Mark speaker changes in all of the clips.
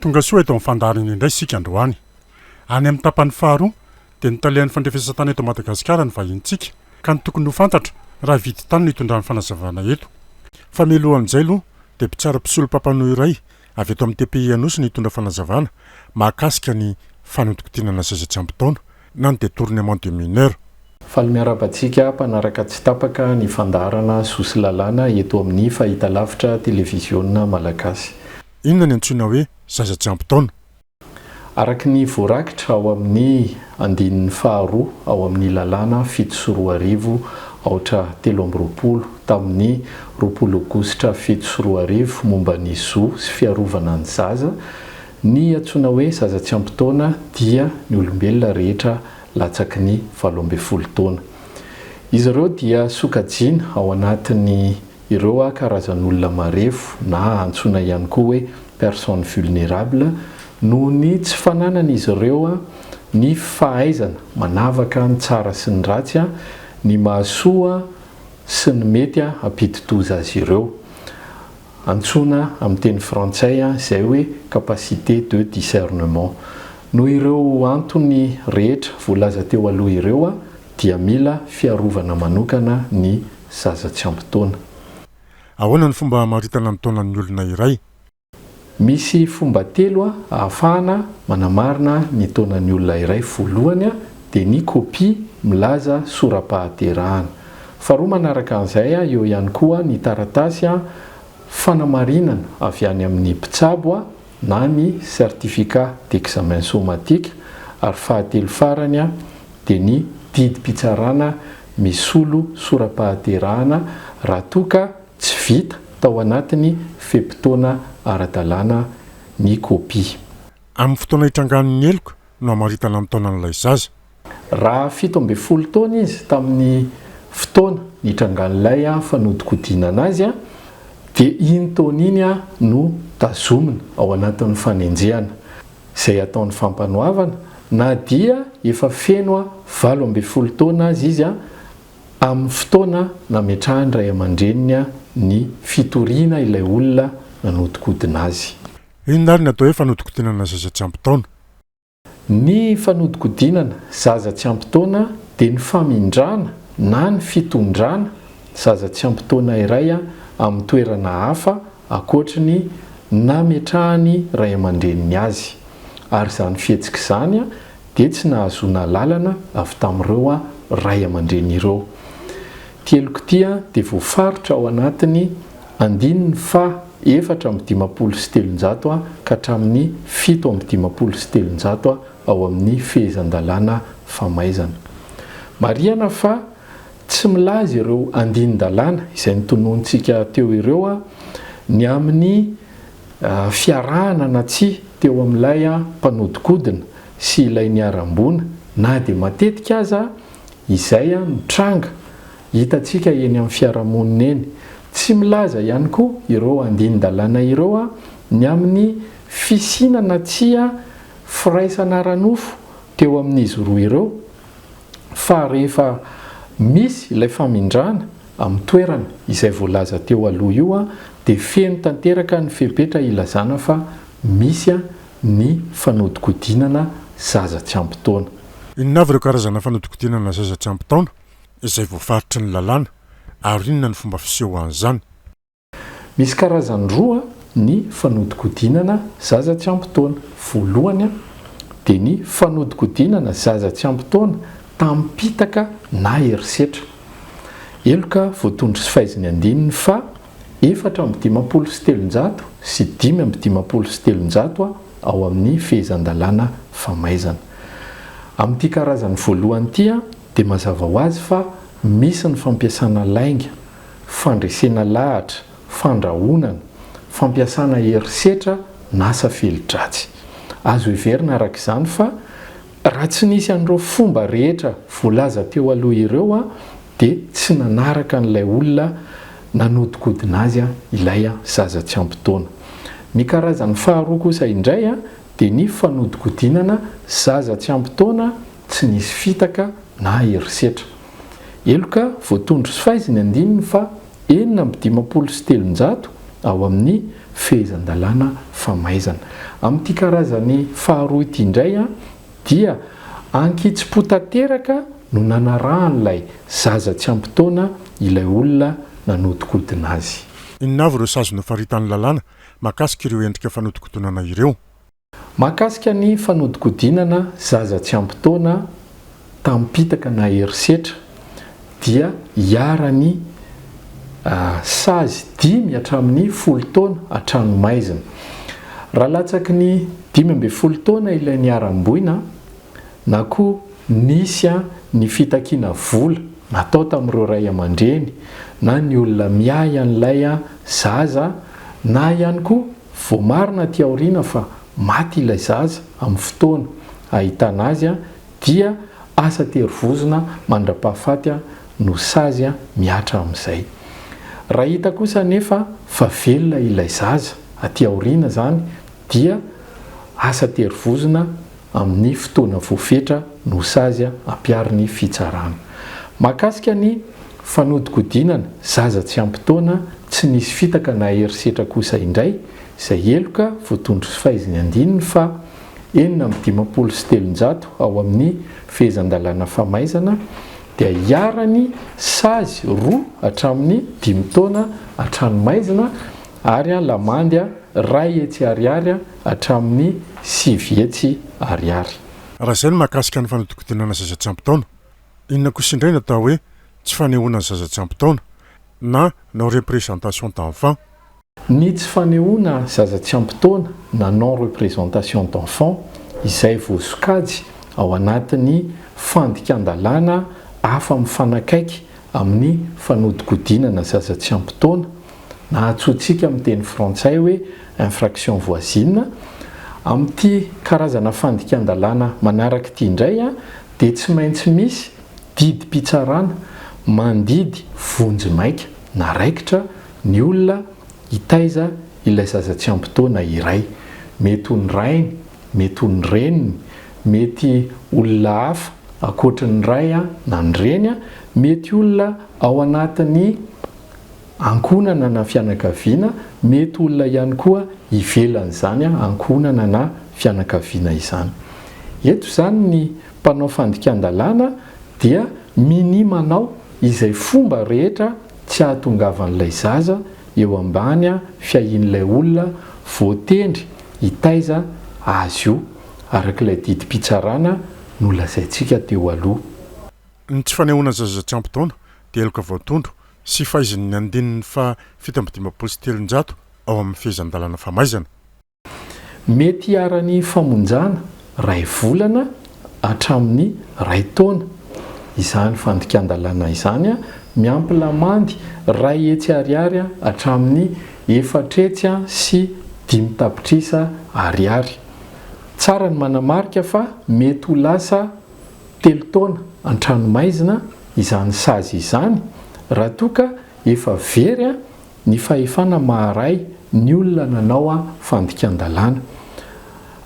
Speaker 1: Tonga soa eto amin'ny fandaharana indray isika androany. Any amin'ny tapany faharoa dia notalehan'ny fandrefesan-tany eto Madagasikara ny vahinintsika ka ny tokony ho fantatra raha hividy tany no hitondrany fanazavana eto fa mialohan'izay aloha dia mpitsara mpisolo mpampanoa iray avy eto amin'ny TPI Anosy no hitondra fanazavana mahakasika ny fanodinkodinana seza tsy ampy taona na ny detournement de mineurs. Faly miarahaba
Speaker 2: antsika mpanaraka tsy tapaka ny fandaharana Soa sy Lalàna eto amin'ny Fahitalavitra Televiziona Malagasy. Inona ny antsoina
Speaker 1: hoe zaza tsy ampy taona?
Speaker 2: Araka ny voarakitra ao amin'ny andininy faharoa ao amin'ny lalàna fito sy roa arivo aotra telo amby roapolo tamin'ny roapolo aogositra fito sy roa arivo momba ny zo sy fiarovana ny zaza, ny antsoina hoe zaza tsy ampy taona dia ny olombelona rehetra latsaky ny valo ambin'ny folo taona. Izy ireo dia sokajiana ao anatin'ny Ireo karazan'olona marefo na antsoina ihany koa hoe personnes vulnérables noho ny tsy fananan'izy ireo ny fahaizana manavaka ny tsara sy ny ratsy, ny mahasoa sy ny mety hampidi-doza azy ireo. Antsoina amin'ny teny frantsay izay hoe capacité de discernement. Noho ireo antony rehetra voalaza teo aloha ireo, dia mila fiarovana manokana ny zaza tsy ampy taona.
Speaker 1: Ahoana ny fomba hamaritana ny taonan'ny olona iray? Misy
Speaker 2: fomba telo ahafahana manamarina ny taonan'ny olona iray, voalohany dia ny kopia milaza sora-pahaterahana, faharoa manaraka an'izay eo ihany koa ny taratasy fanamarinana avy any amin'ny mpitsabo, na ny Certificat d'examen somatique ary fahatelo farany dia ny didim-pitsarana misolo sora-pahaterahana raha toa ka tsy vita tao anatin'ny fe-potoana ara-dalàna ny kopia. Amin'ny fotoana
Speaker 1: itrangan'ny heloka no hamaritana ny taonan'ilay zaza. Raha
Speaker 2: fito ambin'ny folo taona izy tamin'ny fotoana nitrangan'ilay fanodinkodinana azy, dia iny taona iny no tazomina ao anatin'ny fanenjehana izay ataon'ny fampanoavana, na dia efa feno valo ambin'ny folo taona aza izy amin'ny fotoana nametrahan'ny ray aman-dreniny ny fitoriana ilay olona nanodinkodina azy. Inona ary no atao hoe
Speaker 1: fanodinkodinana zaza tsy ampy taona?
Speaker 2: Ny fanodikodinana zaza tsy ampy taona dia ny famindrana na ny fitondrana zaza tsy ampy taona iray amin'ny toerana hafa ankoatry ny nametrahan'ny ray aman-dreniny azy, ary izany fihetsika izany dia tsy nahazoana alalana avy tamin'ireo ray aman-dreny ireo. Ity heloka ity dia voafaritra ao anatin'ny andininy faha. efatra amby dimampolo sy telonjato ha ka hatramin'ny fito amby dimampolo sy telonjato ha ao amin'ny Fehezan-dalàna Famaizana. Marihana fa tsy milaza ireo andinin-dalàna izay notononintsika teo ireo ha ny amin'ny fiarahana na tsia teo amin'ilay mpanodikodina sy ilay niharam-boina na dia matetika aza izay ha no tranga Hitantsika eny amin'ny fiarahamonina eny. Tsy milaza ihany koa ireo andinin-dalàna ireo ny amin'ny fisiana na tsia firaisana ara-nofo teo amin'izy roa ireo fa rehefa misy ilay famindrana amin'ny toerana izay voalaza teo aloha io dia feno tanteraka ny fepetra ilazana fa misy ny fanodikodinana zaza tsy ampy taona. Inona avy
Speaker 1: ireo karazana fanodikodinana zaza tsy ampy taona? izay voafaritry ny lalàna ary inona ny fomba fisehoan'izany?
Speaker 2: Misy karazany roa ny fanodinkodinana zaza tsy ampy taona. Voalohany dia ny fanodinkodinana zaza tsy ampy taona tamim-pitaka na herisetra. Heloka voatondro sy faizin'ny andininy faha efatra amby dimampolo sy telonjato sy dimy amby dimampolo sy telonjato ao amin'ny Fehezan-dalàna famaizana. Amin'ity karazany voalohany ity dia mazava ho azy fa misy ny fampiasana lainga, fandresena lahatra, fandrahonana, fampiasana herisetra n'asa feli-dratsy. Azo heverina araka izany fa raha tsy nisy an'ireo fomba rehetra voalaza teo aloha ireo dia tsy nanaraka an'ilay olona nanodikodina azy ilay zaza tsy ampy taona. Ny karazany faharoa kosa indray dia ny fanodikodinana zaza tsy ampy taona Tsy nisy fitaka na herisetra. Heloka voatondro sy faizy ny andininy faha enina amby dimampolo sy telonjato ao amin'ny Fehezan-dalàna famaizana. Amin'ity karazany faharoa ity indray dia ankitsipo tanteraka no nanarahan'ilay zaza tsy ampy taona ilay olona nanodikodina azy. Inona avy ireo sazy
Speaker 1: nofaritan'ny lalàna mahakasika ireo endrika fanodikodinana ireo? Mahakasika
Speaker 2: ny fanodikodinana zaza tsy ampy taona tamim-pitaka na herisetra dia iharan'ny sazy dimy hatramin'ny folo taona an-tranomaizina. Raha latsaky ny dimy ambin'ny folo taona ilay niharam-boina na koa nisy ny fitakiana vola natao tamin'ireo ray aman-dreny na ny olona miahy an'ilay zaza na ihany koa Voamarina aty aoriana fa maty ilay zaza amin'ny fotoana ahitana azy dia asa tery vozona mandra-pahafaty no sazy mihatra amin'izay. Raha hita kosa anefa fa velona ilay zaza aty aoriana izany dia asa tery vozona amin'ny fotoana voafetra no sazy ampiaro ny fitsarana. Mahakasika ny fanodinkodinana zaza tsy ampy taona tsy nisy fitaka na herisetra kosa indray izay heloka voatondro sy faizin'ny andininy faha enina amby dimampolo sy telonjato ao amin'ny Fehezan-dalàna Famaizana dia iharan'ny sazy roa hatramin'ny dimy taona an-tranomaizina ary lamandy iray hetsy ariary hatramin'ny sivy hetsy ariary. Raha izay ny
Speaker 1: mahakasika ny fanodinkodinana zaza tsy ampy taona, inona kosa indray ny atao hoe tsy fanehoana ny zaza tsy ampy taona na non représentation d'enfant? Ny tsy
Speaker 2: fanehoana zaza tsy ampy taona na non représentation d'enfant izay voasokajy ao anatin'ny fandikan-dalàna afa-mifanakaiky amin'ny fanodinkodinana zaza tsy ampy taona, Nahatsoantsika amin'ny teny frantsay hoe infraction voisine. Amin'ity karazana fandikan-dalàna manaraka ity indray dia tsy maintsy misy didim-pitsarana mandidy vonjy maika na raikitra ny olona hitaiza ilay zaza tsy ampy taona iray. Mety ho ny rainy, mety ho ny reniny, mety olona hafa ankoatry ny ray na ny reny, mety olona ao anatin'ny ankohonana na fianakaviana, mety olona ihany koa ivelan'izany ankohonana na fianakaviana izany. Eto izany ny mpanao fandikan-dalàna dia minia manao izay fomba rehetra tsy hahatongavan'ilay zaza eo ambany fiahian'ilay olona voatendry hitaiza azy io, araka ilay didim-pitsarana nolazaintsika teo aloha. Ny tsy
Speaker 1: fanehoana zaza tsy ampy taona Deloka voatondro sy faizin' ny andininy faha fito amby dimampolo sy telonjato ao amin' ny Fehezan-dalàna famaizana.
Speaker 2: Mety hiharan' ny famonjana iray volana hatramin' ny iray taona izany fandikan-dalàna izany, miampy lamandy iray hetsy ariary hatramin' ny efatra hetsy sy dimy tapitrisa ariary. Tsara ny manamarika fa mety ho lasa telo taona an-tranomaizina izany sazy izany raha toa ka efa very ny fahefana maha-ray ny olona nanao fandikan-dalàna.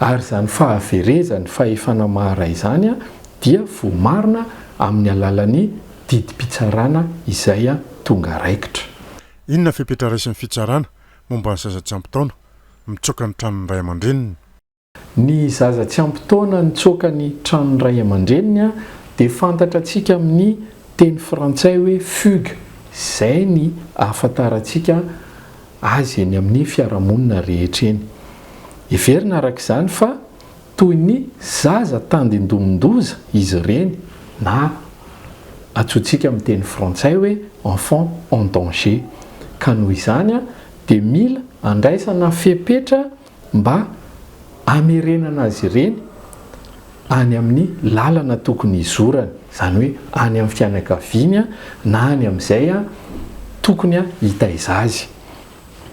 Speaker 2: Ary izany fahaverezan'ny fahefana maha-ray izany dia voamarina amin'ny alalan'ny didim-pitsarana izay tonga raikitra. Inona fepetra
Speaker 1: raisin'ny fitsarana momba ny zaza tsy ampy taona mitsoaka ny tranon'ny ray aman-dreniny? Ny
Speaker 2: zaza tsy ampy taona nitsoaka ny tranon'ny ray aman-dreniny dia fantatra tsika amin'ny teny frantsay hoe fugue izay ny ahafantarantsika azy eny amin'ny fiarahamonina rehetra eny. Heverina araka izany fa toy ny zaza tandindomin-doza izy ireny na antsointsika amin'ny teny frantsay hoe enfant en danger ka noho izany dia mila andraisana fepetra mba hamerenana azy ireny any amin'ny lalana tokony hizorany, izany hoe any amin'ny fianakaviany na any amin'izay tokony hitaiza azy.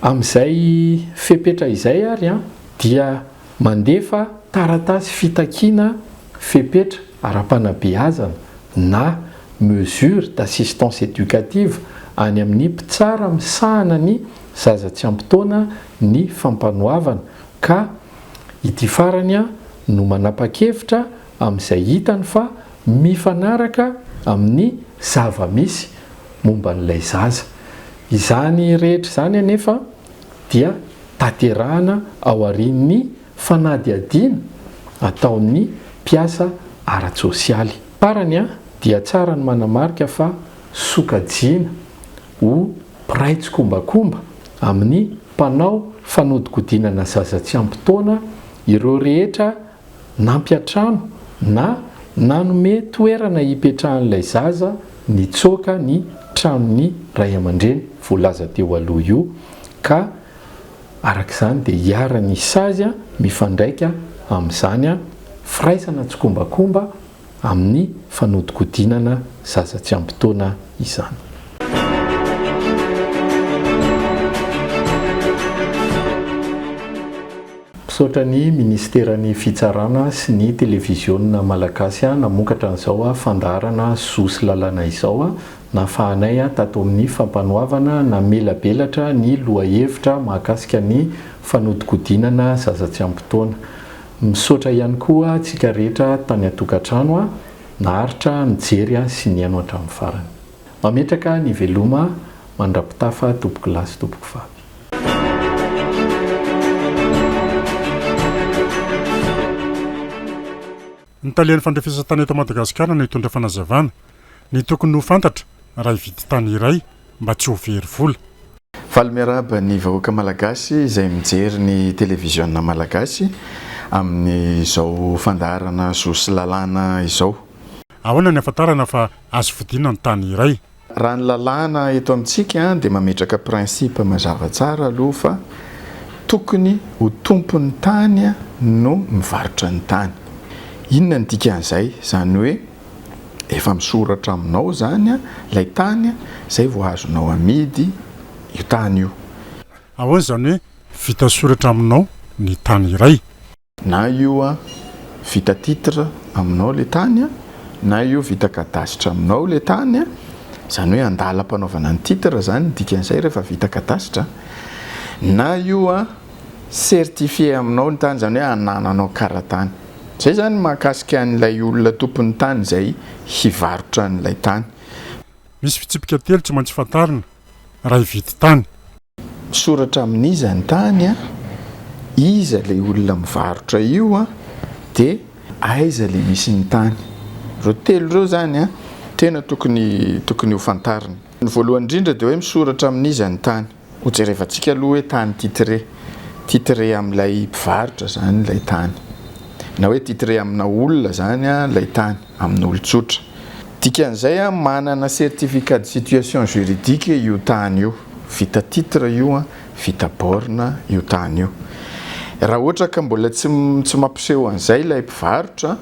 Speaker 2: Amin'izay fepetra izay ary dia mandefa taratasy fitakiana fepetra ara-panabeazana na mesure d'assistance éducative any amin'ny mpitsara misahana ny zaza tsy ampy taona ny fampanoavana ka ity farany no manapa-kevitra amin'izay hitany fa mifanaraka amin'ny zava-misy momba an'ilay zaza. Izany rehetra izany anefa dia tanterahana aorian'ny fanadihadiana ataon'ny mpiasa ara-tsosialy. Farany dia tsara ny manamarika fa sokajiana ho mpiray tsikombakomba amin'ny mpanao fanodikodinana zaza tsy ampy taona ireo rehetra nampiantrano na nanome toerana hipetrahan'ilay zaza nitsoaka ny tranon'ny ray aman-dreny voalaza teo aloha io ka araka izany dia iharan'ny sazy mifandraika amin'izany firaisana tsikombakomba amin'ny fanodinkodinana zaza tsy ampy taona izany. Misaotra ny Minisiteran'ny Fitsarana sy ny Televiziona Malagasy namokatra an'izao fandaharana Zo sy Lalàna izao. Nahafahanay tato amin'ny Fampanoavana namelabelatra ny lohahevitra mahakasika ny fanodinkodinana zaza tsy ampy taona. Misaotra ihany koa antsika rehetra tany an-tokantrano naharitra nijery sy nihaino hatramin'ny farany. Mametraka ny veloma mandrapitafa tompoko lahy sy tompoko vavy.
Speaker 1: Ny talehan'ny fandrefesantany eto Madagasikara no hitondra fanazavana ny tokony ho fantatra raha hividy tany iray. mba tsy ho very vola. Faly miarahaba
Speaker 3: ny vahoaka malagasy izay mijery ny televiziona malagasy amin'izao fandaharana zo sy lalàna izao. Ahoana ny
Speaker 1: ahafantarana fa azo vidiana ny tany iray? Raha ny lalàna
Speaker 3: eto amintsika dia mametraka principe mazava tsara aloha fa tokony ho tompon'ny tany no mivarotra ny tany. Inona ny dikan'izay? Izany hoe. efa misoratra aminao izany ilay tany izay vao azonao amidy io tany io. Ahoana izany
Speaker 1: hoe vita soratra aminao ny tany iray? Na io
Speaker 3: vita titre aminao ilay tany, na io vita cadastre aminao ilay tany, izany hoe andalam-panaovana ny titre izany ny dikan'izay rehefa vita cadastre, na io. certifier aminao ny tany izany hoe anananao karatany. Izay izany mahakasika an'ilay olona tompon'ny tany izay hivarotra an'ilay tany. Misy
Speaker 1: fitsipika telo tsy maintsy fantarina raha hividy tany. Misoratra
Speaker 3: amin'iza ny tany, iza ilay olona mivarotra io dia aiza ilay misy ny tany. Ireo telo ireo izany tena tokony tokony ho fantarina. Ny voalohany indrindra dia hoe misoratra amin'iza ny tany. Ho jerevantsika aloha hoe tany titré. Titré amin'ilay mpivarotra izany ilay tany. Na hoe titré amina olona izany ilay tany, amin'olon-tsotra. Dikan'izay, manana certificat de situation juridique io tany io. Vita titre io, vita borne io tany io. Raha ohatra ka mbola tsy mampiseho an'izay ilay mpivarotra,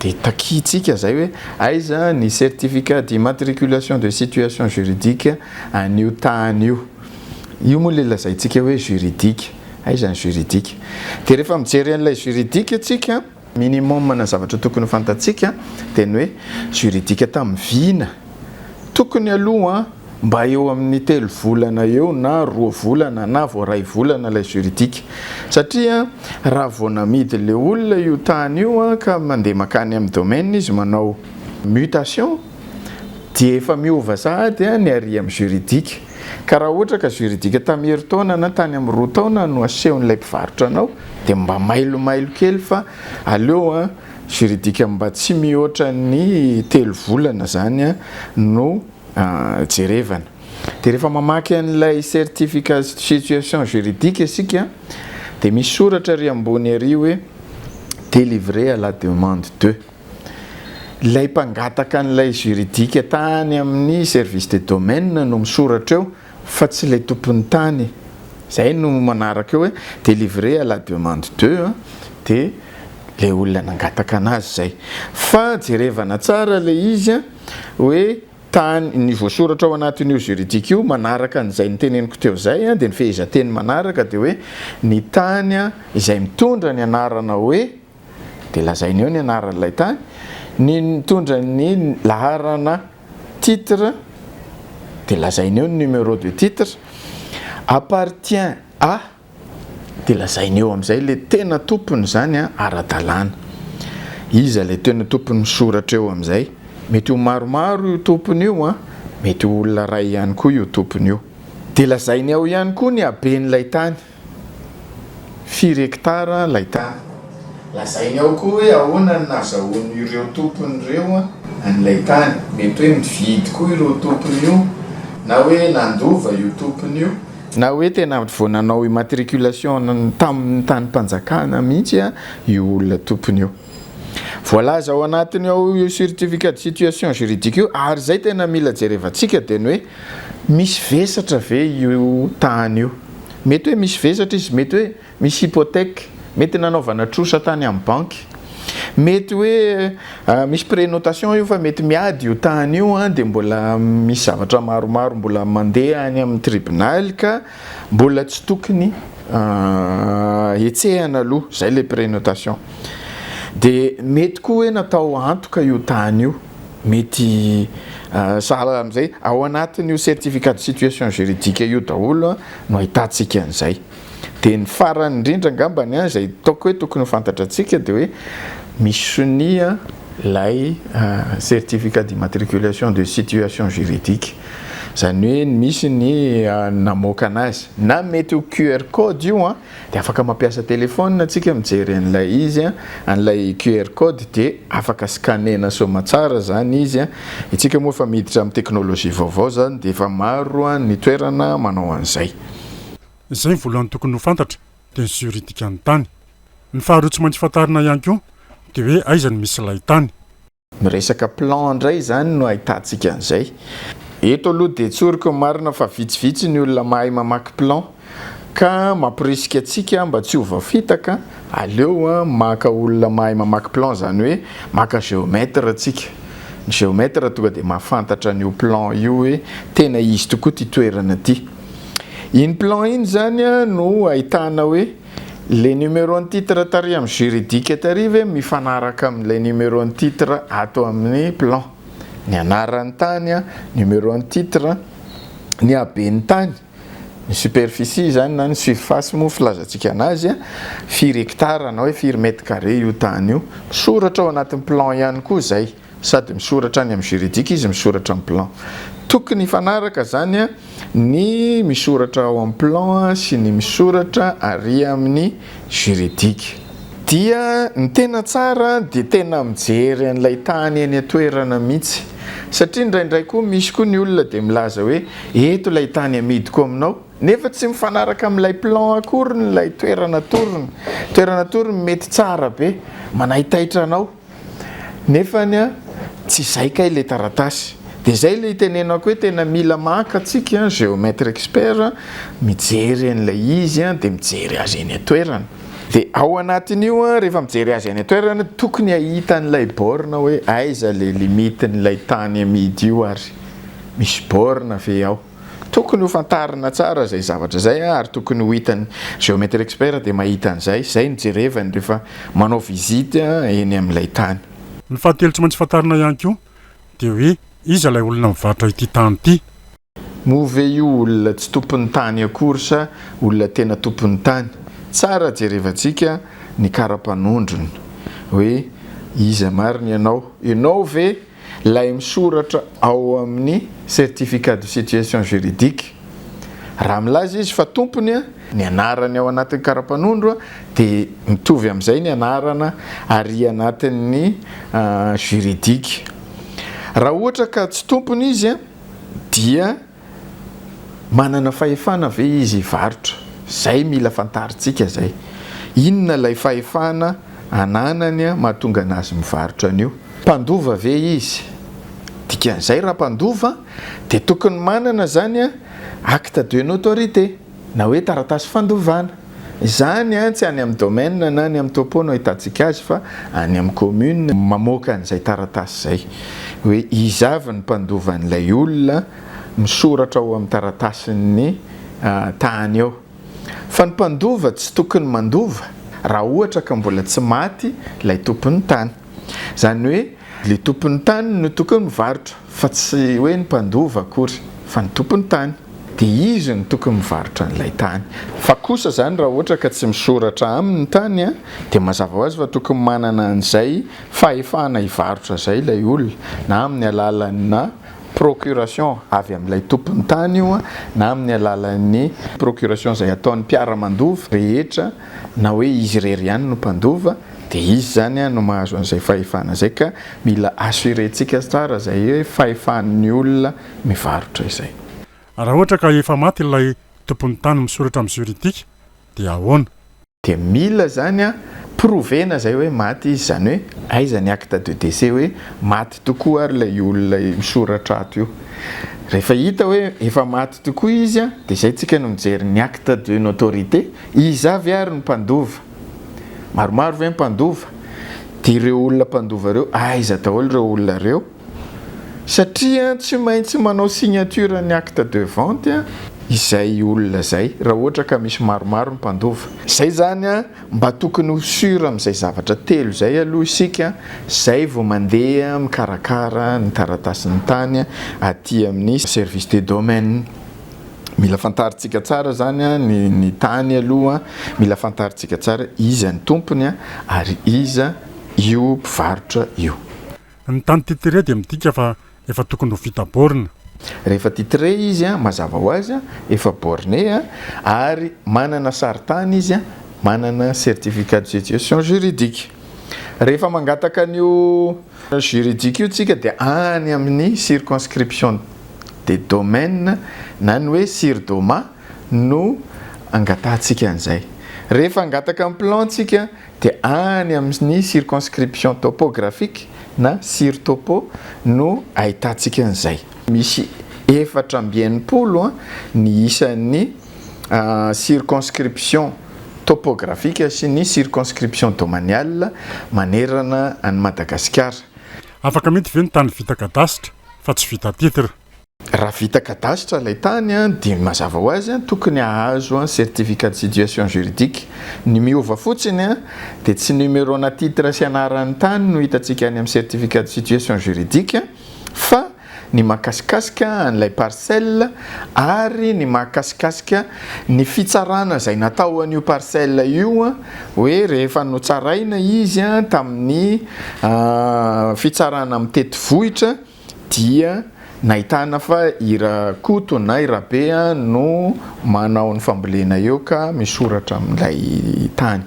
Speaker 3: Dia takiantsika izay hoe aiza ny certificat d'immatriculation de situation juridique an'io tany io. Io moa ilay lazaintsika hoe juridique. Aiza ny juridique? Dia rehefa mijery an'ilay juridique isika, minimum-na zavatra tokony ho fantatsika dia ny hoe juridique tamin'ny vina. Tokony aloha mba eo amin'ny telo volana eo na roa volana na vao iray volana ilay juridique satria raha vao namidy ilay olona io tany io ka mandeha makany amin'ny domaine izy manao mutation dia efa miova sahady ny arỳ amin'ny juridique ka raha ohatra ka juridique tamin'ny herintaona na tany amin'ny roa taona no asehon'ilay mpivarotra anao dia mba mailomailo kely fa aleo Juridique mba tsy mihoatra ny telo volana zany no jerevana. De rehefa mamaky an'ilay certificat de situation juridique isika de misy soratra ary ambony ary hoe delivré à la demande de. Ilay mpangataka an'ilay juridique tany amin'ny service de domaine no misoratra eo Fa tsy ilay tompon'ny tany. Zay no manaraka eo hoe delivré à la demande de a dia ilay olona nangataka anazy zay. Fa jerevana tsara ilay izy a, hoe tany, ny voasoratra ao anatin'io juridique io manaraka an'izay noteneniko teo zay a, dia ny fehezanteny manaraka dia hoe ny tany izay mitondra ny anarana hoe. dia lazainy eo ny anaran'ilay tany, ny nitondra ny laharana titre dia lazainy eo ny numéro de titre, appartient à dia lazainy eo amin'izay ilay tena tompon'izany ara-dalàna. Iza ilay tena tompon'ny soratra eo amin'izay? Mety ho maromaro io tompony io an! Mety ho olona iray ihany koa io tompony io. Dia lazainy ao ihany koa ny haben'ilay tany. Firy hekitara ilay tany? Lazainy ao koa hoe ahoana no nahazahoan'ireo tompony ireo an'ilay tany. Mety hoe nividy koa ireo tompony io, na hoe nandova io tompony io. Na hoe tena vao nanao immatriculation tamin'ny tanim-panjakana mihitsy io olona tompony io. Voalaza ao anatiny ao io certificat de situation juridique io ary izay tena mila jerevantsika dia ny hoe misy vesatra ve io tany io. Mety hoe misy vesatra izy, mety hoe misy hypothèque, mety nanaovana trosa tany amin'ny banky, mety hoe misy prenotation io fa mety miady io tany io dia mbola misy zavatra maromaro mbola mandeha any amin'ny tribonaly ka. Mbola tsy tokony hetsehana aloha, zay le prenotation. De mety koa hoe natao antoka io tany io, mety sahala amin'izay, ao anatin'io certificat de situation juridique io daholo no ahitantsika an'izay. De ny farany indrindra angambany an, izay toaka hoe tokony ho fantatrantsika de hoe misy sonia ilay certificat d'immatriculation de situation juridique. Izany hoe misy ny namoaka anazy. Na mety ho QR code io an, dia afaka mampiasa téléphone antsika mijery an'ilay izy an, an'ilay QR code dia afaka scanner-na soamatsara izany izy an, isika moa efa miditra amin'ny technologie vaovao izany dia efa maro ny toerana manao an'izay. Izay
Speaker 1: voalohany tokony ho fantatra dia ny juridique ny tany. Ny faharoa tsy maintsy fantarina ihany koa dia hoe aiza no misy ilay tany. Ny resaka
Speaker 3: plan indray izany no ahitantsika an'izay. Eto aloha dia tsoriko ny marina fa vitsivitsy ny olona mahay mamaky plan ka mamporisika antsika mba tsy ho voafitaka, aleo maka olona mahay mamaky plan izany hoe maka géomètre tsika. Ny géomètre tonga dia mahafantatra an'io plan io hoe tena izy tokoa ity toerana ity. Iny plan iny izany no ahitana hoe. Le numéro ny titre tary am juridique tary ve mifanaraka am le numéro ny titre ato aminy plan? Ny anarany tany, numéro ny titre, ny habeny tany, ny superficie izany na ny surface moa filazantsika anazy, firy hectare na hoe firy mètre carré io tany io. Misoratra ao anatin'ny plan ihany koa izay. Sady misoratra any am juridique izy misoratra am plan. Tokony hifanaraka zany ny misoratra ao am plan sy ny misoratra ary aminy juridique. Dia ny tena tsara dia tena mijery an'ilay tany eny an-toerana mihitsy. Satria indraindray koa misy koa ny olona dia milaza hoe eto ilay tany amidiko aminao nefa tsy mifanaraka amin'ilay plan akoriny ilay toerana atorony. Toerana atorony mety tsara be, manaitaitra anao. Nefa anie tsy izay kay le taratasy. Dia izay ilay itenenako hoe tena mila maka tsika géomètre expert mijery an'ilay izy dia mijery azy eny an-toerana. Dia ao anatin'io rehefa mijery azy any an-toerana tokony hahita an'ilay borne hoe aiza ilay limite-n'ilay tany amidy io ary misy borne ve ao. Tokony ho fantarina tsara izay zavatra izay ary tokony ho hitan'ny Géomètre Expert dia mahita an'izay, izay no jerevany rehefa manao visite eny amin'ilay tany. Ny fahatelo tsy
Speaker 1: maintsy fantarina ihany koa dia hoe iza ilay olona mivarotra ity tany ity. Moa ve
Speaker 3: io olona tsy tompon'ny tany akory sa olona tena tompon'ny tany? Tsara jerevantsika ny kara-panondrony hoe iza marina ianao, ianao ve Ilay misoratra ao amin'ny Certificat de situation juridique, raha milaza izy fa tompony, ny anarany ao anatin'ny karapanondro dia mitovy amin'izay ny anarana ary anatin'ny juridique. Raha ohatra ka tsy tompony izy dia. Manana fahefana ve izy hivarotra? Zay mila fantarintsika zay. Inona ilay fahefana ananany mahatonga anazy mivarotra an'io? Mpandova ve izy? Dikan'izay raha mpandova dia tokony manana zany acte de notorité na hoe taratasy fandovana. Izany tsy any amin'ny domaine na any amin'ny topo no ahitantsika azy fa any amin'ny commune. Mamoaka an'izay taratasy izay hoe iza avy ny mpandova an'ilay olona, misoratra ao amin'ny taratasin'ny tany ao. Fa ny mpandova tsy tokony mandova raha ohatra ka mbola tsy maty ilay tompon'ny tany. Izany hoe ilay tompon'ny tany no tokony mivarotra. Fa tsy hoe ny mpandova akory fa ny tompon'ny tany. Dia izy no tokony mivarotra an'ilay tany. Fa kosa izany raha ohatra ka tsy misoratra aminy ny tany dia mazava ho azy fa tokony manana an'izay fahefana hivarotra izay ilay olona na amin'ny alalanà procuration avy amin'ilay tompon'ny tany io na amin'ny alalan'ny procuration izay ataon'ny mpiara-mandova rehetra na hoe izy irery ihany no mpandova dia izy izany no mahazo an'izay fahefana izay ka mila assurer-tsika tsara izay hoe fahefan'ny olona mivarotra izay. Raha ohatra ka
Speaker 1: efa maty ilay tompon'ny tany misoratra amin'ny juridique dia ahoana? Dia mila
Speaker 3: izany prouver-na izay hoe maty izy, izany hoe aiza ny acte de décès hoe maty tokoa ary ilay olona misoratra ato io. Rehefa hita hoe efa maty tokoa izy dia izay tsika no mijery ny acte de notoriété, Iza avy ary ny mpandova? Maromaro ve ny mpandova? Dia ireo olona mpandova ireo, aiza daholo ireo olona ireo? Satria tsy maintsy manao signature ny acte de vente izay olona izay, raha ohatra ka misy maromaro ny mpandova. Izay izany an, mba tokony ho sur amin'izay zavatra telo izay aloha isika, izay vao mandeha mikarakara ny taratasin'ny tany aty amin'ny service des domaines. Mila fantarintsika tsara zany a, ny ny tany aloha mila fantarintsika tsara iza ny tompony a, ary iza io mpivarotra io. Ny tany
Speaker 1: titré dia midika fa efa tokony ho vita borne. Rehefa titré
Speaker 3: izy a, mazava ho azy a, efa borne a, ary manana sarintany izy a, manana certificat de situation juridique. Rehefa mangataka an'io. Juridique-io tsika dia any amin'ny circonscription de domaine na ny hoe CIRDOMA no angatahantsika an'izay. Rehefa hangataka ny plan tsika dia any amin'ny circonscription topographique na CIRTOPO no ahitantsika an'izay. Misy efatra amby enimpolo ny isan'ny circonscription topographique sy ny circonscription domaniale manerana an'i Madagasikara. Afaka mety
Speaker 1: ve ny tany vita kadasitra fa tsy vita titre? Raha vita
Speaker 3: kadasitra ilay tany dia mazava ho azy tokony hahazo certificat de situation juridique. Ny miova fotsiny dia tsy numerona titre sy anaran'ny tany no hitantsika any amin'ny certificat de situation juridique Fa ny mahakasikasika an'ilay parcelle ary ny mahakasikasika ny fitsarana izay natao an'io parcelle io hoe rehefa notsaraina izy tamin'ny fitsarana mitety vohitra dia nahitana fa i Rakoto na i Rabe no manao ny fambolena eo ka misoratra amin'ilay tany.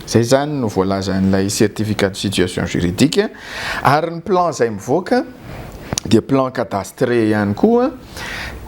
Speaker 3: Izay izany no voalazan'ilay certificat de situation juridique ary ny plan izay mivoaka dia plan cadastre ihany koa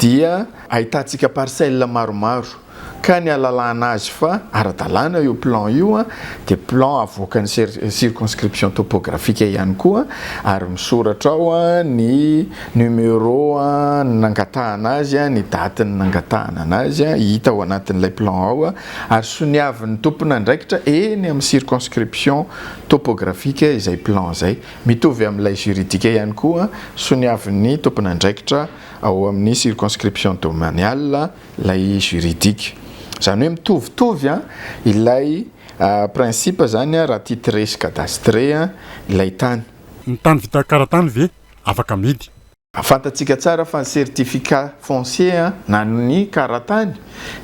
Speaker 3: dia ahitantsika parcelle maromaro ka ny alalana azy fa ara-dalàna io plan io dia plan avoakan'ny circonscription topographique ihany koa ary misoratra ao ny numéro nangatahana azy, ny date nangatahana anazy hita ao anatin'ilay plan ao. ary soniavin'ny tompon'andraikitra eny amin'ny circonscription topographique izay plan izay. Mitovy amin'ilay juridique ihany koa, soniavin'ny tompon'andraikitra ao amin'ny circonscription domaniale ilay juridique. Izany hoe mitovitovy ilay principe izany raha titré sy cadastre ilay tany. Ny tany vita
Speaker 1: karatany ve afaka amidy? Fantatsika tsara
Speaker 3: fa ny certificat foncier na ny kara-tany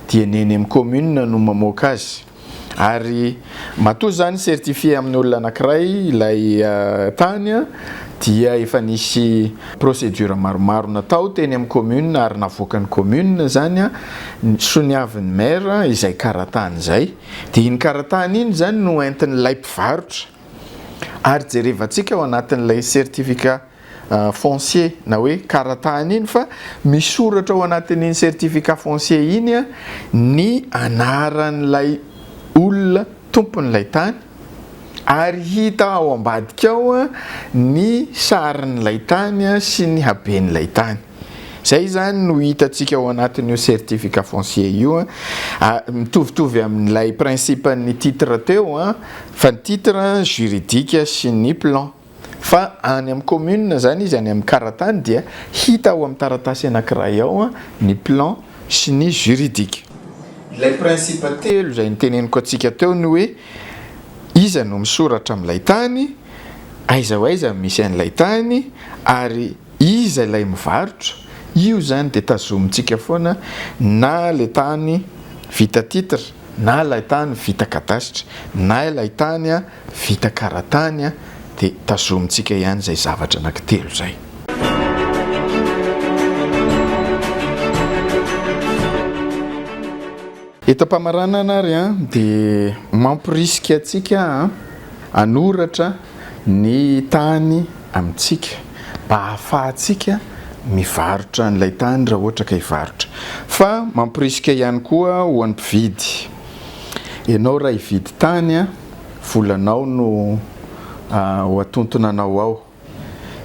Speaker 3: dia ny eny amin'ny commune no mamoaka azy ary matoa izany certifier amin'ny olona anankiray ilay tany dia efa nisy procédure maromaro natao teny amin'ny commune ary navoakan'ny commune izany soniavin'ny maire izay kara-tany izay dia iny kara-tany iny izany no entin'ilay mpivarotra ary jerevantsika ao anatin'ilay certificat foncier na hoe karatany iny fa misoratra ao anatin'iny certificat foncier iny ny anaran'ilay olona tompon'ilay tany ary hita ao ambadika ao ny sarin'ilay tany sy ny haben'ilay tany. Izay izany no hitantsika ao anatin'io certificat foncier io. Mitovitovy amin'ilay principe-n'ny titre teo fa ny titre juridique sy ny plan. Fa any amin'ny commune izany izy any amin'ny karatany dia hita ao amin'ny taratasy anankiray ao ny plan sy ny juridique. Ilay principe telo izay niteneniko antsika teo ny hoe iza no misoratra amin'ilay tany, aiza ho aiza no misy an'ilay tany ary iza ilay mivarotra, io izany dia tazomintsika foana na ilay tany vita titre, na ilay tany vita kadasitra na ilay tany vita karatany dia tazomintsika ihany izay zavatra anankitelo izay. Eto am-pamaranana ary dia mamporisika antsika hanoratra ny tany. amintsika mba hahafahantsika mivarotra an'ilay tany raha ohatra ka hivarotra fa mamporisika ihany koa ho an'ny mpividy ianao raha hividy tany an! volanao no ho atontona anao ao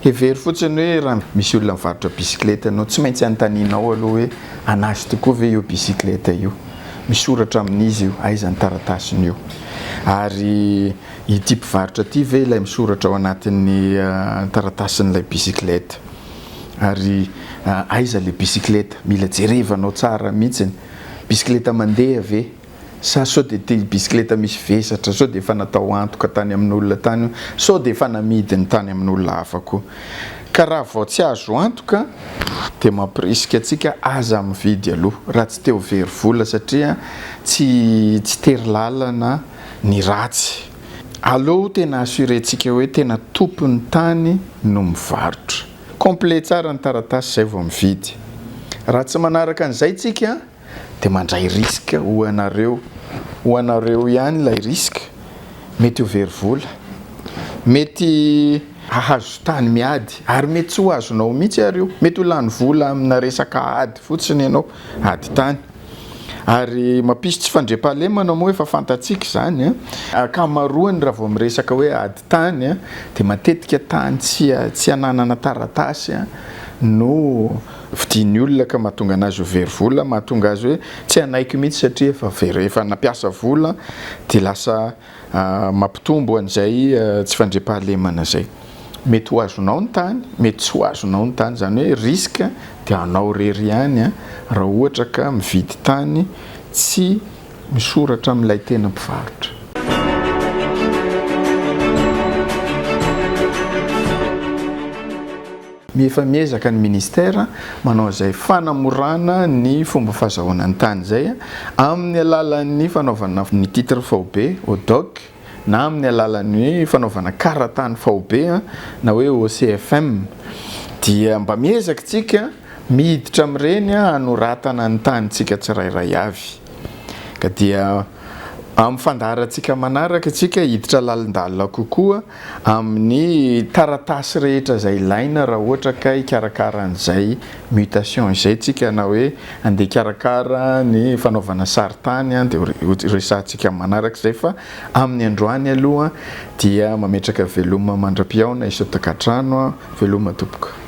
Speaker 3: hevero fotsiny hoe raha misy olona mivarotra bisikileta ianao tsy maintsy anontanianao aloha hoe an'azy tokoa ve io bisikileta io? misoratra amin'izy io aiza ny taratasiny io? ary Ity mpivarotra ity ve ilay misoratra ao anatin'ny taratasin'ilay bicyclette? Ary aiza ilay bicyclette? Mila jerevanao tsara mihitsiny. Bicyclette mandeha ve? Sa sao dia ity bicyclette misy vesatra, sao dia efa natao antoka tany amin'olona tany io, sao dia efa namidiny tany amin'olona hafa koa. Ka raha vao tsy azo antoka dia mampirisika antsika aza mividy aloha raha tsy te ho very vola satria tsy tsy tery lalana. ny ratsy. Aleo tena assurer-tsika hoe tena tompon'ny tany no mivarotra. Complet tsara ny taratasy izay vao mividy. Raha tsy manaraka an'izay tsika dia mandray risque ho anareo. Ho anareo ihany ilay risque. Mety ho very vola. Mety hahazo tany miady ary mety tsy ho azonao mihitsy ary io. Mety ho lany vola amina resaka ady fotsiny ianao, ady tany. Ary mampisy tsy fandriampahalemana moa efa fantatsika izany an! Ankamaroany raha vao miresaka hoe ady tany an, dia matetika tany tsy ananana taratasy an, no vidian'ny olona ka mahatonga anazy ho very vola, mahatonga azy hoe tsy hanaiky mihitsy satria efa very, efa nampiasa vola dia lasa Mampitombo an'izay tsy fandriampahalemana izay. Mety ho azonao ny tany, mety tsy ho azonao ny tany. Izany hoe risque dia anao irery ihany raha ohatra ka mividy tany tsy misoratra amin'ilay tena mpivarotra. Efa miezaka ny Ministera manao izay fanamorana ny fomba fahazahoana ny tany izay amin'ny alalan'ny fanaovana ny titre faobe, ODOC, na amin'ny alalan'ny hoe fanaovana karatany faobe na hoe OCFM dia mba miezaka isika miditra amin'ireny hanoratana ny tanintsika tsirairay avy ka dia amin'ny fandaharantsika manaraka isika hiditra lalindalina kokoa amin'ny taratasy rehetra izay ilaina raha ohatra ka hikarakara an'izay mutation izay tsika na hoe andeha hikarakara ny fanaovana sarintany an dia horesahantsika manaraka izay fa amin'ny androany aloha dia mametraka veloma mandra-pihaona i Sotakatrano an, veloma tompoko.